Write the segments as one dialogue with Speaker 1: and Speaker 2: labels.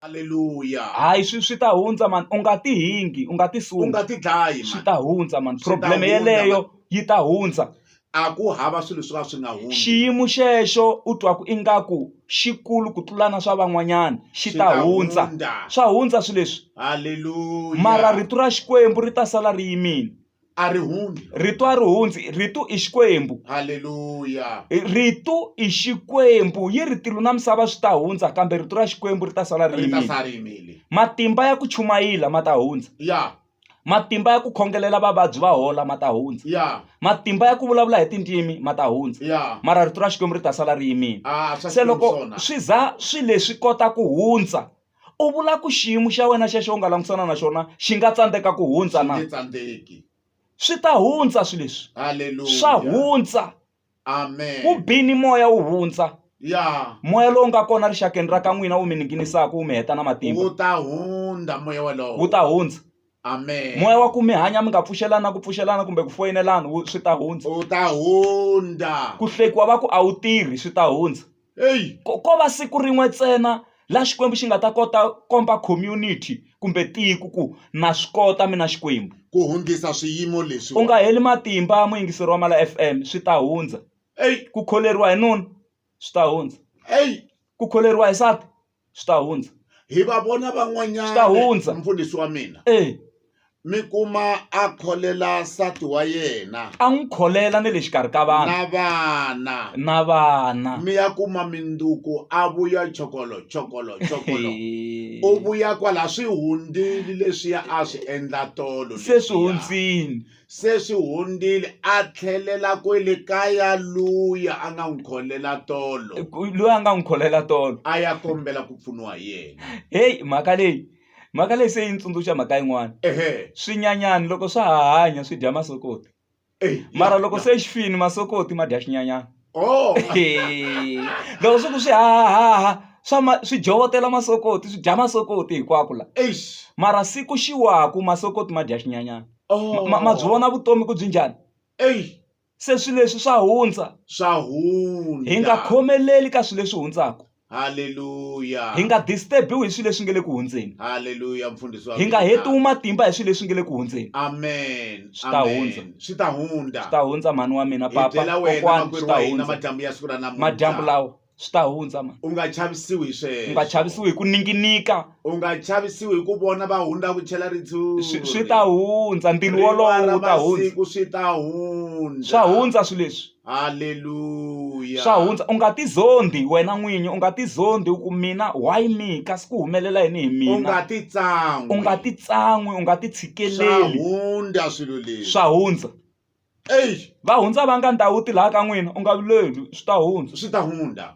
Speaker 1: Haleluya. Hayi swi swi
Speaker 2: ta hundza mani u nga ti hingi u nga ti suki. U nga ti dlayi mani. Swi ta
Speaker 1: hundza mani
Speaker 2: problem yeleyo yi
Speaker 1: ta
Speaker 2: hundza. A ku hava
Speaker 1: swilo swo ka swi nga hundzi. Xiyimo xexo
Speaker 2: u twa ku ingaku xikulu ku tlula na swa van'wanyana xi ta hundza. Swa hundza swilo leswi. Haleluya.
Speaker 1: Mara rito ra
Speaker 2: Xikwembu ri ta sala ri yimile. a ri hundzi
Speaker 1: rito a ri hundzi
Speaker 2: rito i xikwembu halleluya
Speaker 1: rito
Speaker 2: i xikwembu yi ri tilo na misava swi ta hundza kambe rito ra xikwembu ri ta sala ri ri ta yimile sala ri yimile
Speaker 1: matimba ya ku
Speaker 2: chumayila ma ta hundza ya
Speaker 1: matimba ya ku
Speaker 2: khongelela vavabyi va hola ma ta hundza ya matimba
Speaker 1: ya ku vulavula
Speaker 2: hi tindzimi ma ta hundza ya mara rito ra xikwembu
Speaker 1: ri ta
Speaker 2: sala ri yimile a swa se loko swona
Speaker 1: swi
Speaker 2: za swi leswi kota ku hundza u vula ku xiyimo xa wena xexo u nga langutisana na xona xi nga tsandzeka ku hundza na tsandzeki
Speaker 1: swi ta
Speaker 2: hundza swi leswi swa
Speaker 1: hundza
Speaker 2: amen
Speaker 1: ku bini moya
Speaker 2: wu hundza ya moya
Speaker 1: lowu nga kona
Speaker 2: rixakeni ra ka n'wina wu mi ninginisaka wu mi heta na matimba wu ta hundza
Speaker 1: moya wolowo wu ta hundza
Speaker 2: Amen. moya wa
Speaker 1: ku mi hanya mi
Speaker 2: nga pfuxelana ku pfuxelana kumbe ku foyinelana wu- swi ta hundza U ta hundza.
Speaker 1: ku hlekiwa va ku
Speaker 2: a wu tirhi swi ta hundza Hey. ko ko
Speaker 1: va siku rin'we
Speaker 2: ntsena laha xikwembu xi nga ta kota komba community kumbe tiko ku na swi kota mina xikwembu Ku hundzisa
Speaker 1: swiyimo leswi. u nga heli matimba
Speaker 2: muyingiseri wa mala fm swi ta hundza Hey. ku kholeriwa
Speaker 1: hi nuna
Speaker 2: swi ta hundza Hey. ku
Speaker 1: kholeriwa hi
Speaker 2: sati swi ta hundza hi va vona
Speaker 1: van'wanyana swi ta
Speaker 2: hundza
Speaker 1: mfundhisi wa
Speaker 2: mina
Speaker 1: eh mi
Speaker 2: kuma a
Speaker 1: kholela nsati wa yena a n'wi kholela
Speaker 2: ni le xikarhi ka vanhu na vana na
Speaker 1: vana mi ya kuma minduku a vuya chokolo chokolo chokolo u vuya kwala swi hundzile leswiya a swi endla tolo se swi hundzile
Speaker 2: se swi
Speaker 1: hundzile a tlhelela kwele kaya luya a nga n'wi kholela tolo loyi a nga n'wi
Speaker 2: kholela tolo a ya kombela ku
Speaker 1: pfuniwa hi yena heyi mhaka leyi
Speaker 2: mhaka leyi se yi ni tsundzuxa mhaka yin'wana ehe swinyanyani
Speaker 1: loko swa
Speaker 2: ha hanya swi dya masokoti eyi, mara ya, loko ya. se xi fini masokoti ma dya xinyanyani
Speaker 1: Oh.
Speaker 2: loko swi ku swi hahaha swa ma swi dyovotela masokoti swi dya masokoti hinkwako la Eish. mara siku
Speaker 1: xi
Speaker 2: waku masokoti ma dya xinyanyana Oh. ma, ma byi
Speaker 1: vona vutomi
Speaker 2: ku byi njhani Ey.
Speaker 1: se swilo leswi
Speaker 2: swa hundza Swa hundza.
Speaker 1: hi nga khomeleli
Speaker 2: ka swilo leswi hundzaka Hallelujah.
Speaker 1: hi nga disturbiwi
Speaker 2: hi swilo leswi nga le ku hundzeni Hallelujah mfundhisi wa
Speaker 1: hi nga mina. hetiwi matimba
Speaker 2: hi
Speaker 1: swilo
Speaker 2: leswi nga le ku hundzeni Amen. Swi ta
Speaker 1: Amen. hundza.
Speaker 2: Swi ta
Speaker 1: hundza.
Speaker 2: swi ta
Speaker 1: hundza mhani wa
Speaker 2: mina Hi papa byela wena kokwani makwerhu swi ta wa
Speaker 1: hina hundza madyambu
Speaker 2: ya siku
Speaker 1: ra namuntlha.
Speaker 2: madyambu
Speaker 1: lawa swi
Speaker 2: ta hundza mani U nga chavisiwi hi
Speaker 1: sweswo. u nga chavisiwi hi ku
Speaker 2: ninginika U nga chavisiwi
Speaker 1: hi ku vona va hundza ku chela ritshuri. swi swi ta hundza
Speaker 2: ntilu Rin'wana wolowo wu ta hundza masiku swi ta
Speaker 1: hundza. swa hundza swilo
Speaker 2: leswi Hallelujah.
Speaker 1: swa hundza u nga
Speaker 2: tizondi wena n'winyi u nga tizondi u ku mina why me kasi ku humelela yini hi U mina nga ti tsan'wi.
Speaker 1: u
Speaker 2: nga
Speaker 1: ti tsan'wi
Speaker 2: u nga ti Swa tshikeleli hundza swilo
Speaker 1: leswi. swa hundza
Speaker 2: Eish,
Speaker 1: va hundza va nga
Speaker 2: ndhawu ti laha ka n'wina u nga vileli swi ta hundza swi ta hundza.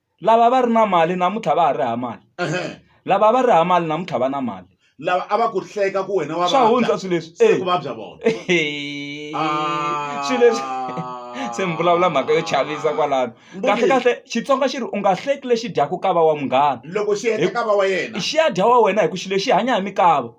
Speaker 2: lava va ri na mali namuntlha va ha ri hava mali lava va
Speaker 1: ri hava mali
Speaker 2: namuntlha va na mali lava a va ku
Speaker 1: hleka ku wena wa swa hundza swilo leswi se
Speaker 2: ku vabya
Speaker 1: vona
Speaker 2: swilo leswi se mi vulavula mhaka yo chavisa kwalano kahle kahle xitsonga xi ri u nga hleki lexi dyaku kava wa munghana loko xi heta kava wa
Speaker 1: yena xi ya dya wa wena hi ku
Speaker 2: xilo xi hanya hi mikava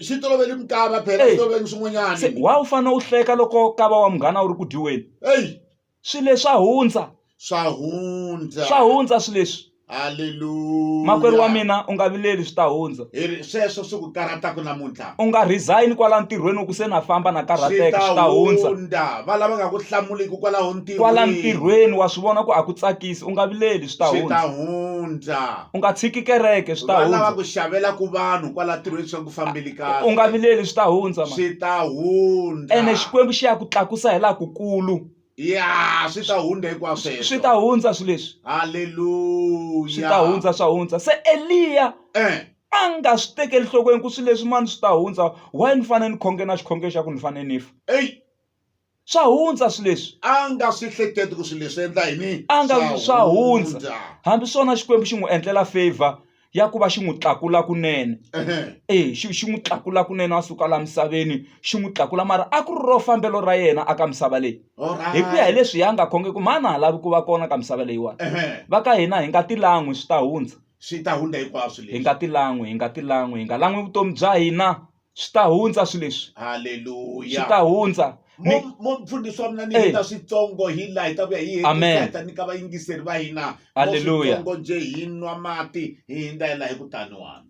Speaker 2: xi toloveli
Speaker 1: mikava phela xi toloveli swin'wanyana wa u fanele u
Speaker 2: hleka loko kava wa munghana wu ri ku dyiweni eyi swilo
Speaker 1: leswi swa
Speaker 2: hundza swa
Speaker 1: hundza swa hundza swilo leswi
Speaker 2: haleluya
Speaker 1: makwerhu wa mina
Speaker 2: u nga vileli swi ta hundza Hi ri- sweswo swi ku
Speaker 1: karhataka namuntlha u nga resign
Speaker 2: kwala ntirhweni u ku se na famba na swi karhateka swi ta ta hundza hundza va lava nga ku
Speaker 1: hlamuliki kwalaho ntirhweni kwala ntirhweni wa
Speaker 2: swi vona ku a ku tsakisi u nga vileli swi ta swi ta hundza hundza u nga
Speaker 1: tshiki kereke
Speaker 2: swi ta va lava hundza ku xavela ku
Speaker 1: vanhu kwala ntirhweni swa ku fambile kahle u nga vileli swi ta
Speaker 2: hundza mhani swi ta hundza
Speaker 1: ene xikwembu xi ya ku
Speaker 2: tlakusa hi laha kukulu ya swi
Speaker 1: ta hundza hinkwasweswo swi ta hundza swilo leswi
Speaker 2: swi haleluya
Speaker 1: ta hundza swa
Speaker 2: hundza se eliya eh a nga swi tekeli nhlokweni ku swilo leswi mani swi ta hundza why ni fanele ni khonge na xikhongelo xa ku ni fanele ni fa eyi
Speaker 1: swa
Speaker 2: hundza swi leswi a nga swi hleketi
Speaker 1: ku swi leswi endla yini
Speaker 2: a nga swa hundza hambi swona xikwembu
Speaker 1: xi
Speaker 2: n'wi endlela favor ya ku va xi n'wi tlakula kunene e xi xi n'wi tlakula kunene a suka laha misaveni xi n'wi tlakula mara a ku ri ro fambelo ra yena aka misava leyi hi ku ya hi leswi ya nga khonge ku mhani a ha lavi ku va kona ka misava leyiwani va ka hina hi nga tilan'wi swi ta hundza swi ta hundza hinkwaswo
Speaker 1: hi nga tilan'wi hi nga
Speaker 2: tilan'wi hi nga lan'wi vutomi bya hina swi ta hundza swilo leswi haleluya swi ta
Speaker 1: hundza
Speaker 2: mufundhisi
Speaker 1: wa mina ni heta switsongo hi laha hi ta vuya hi heta nyika vayingiseri va hina switsongo nje hi nwa mati hi hindza hi laha hi ku taniwani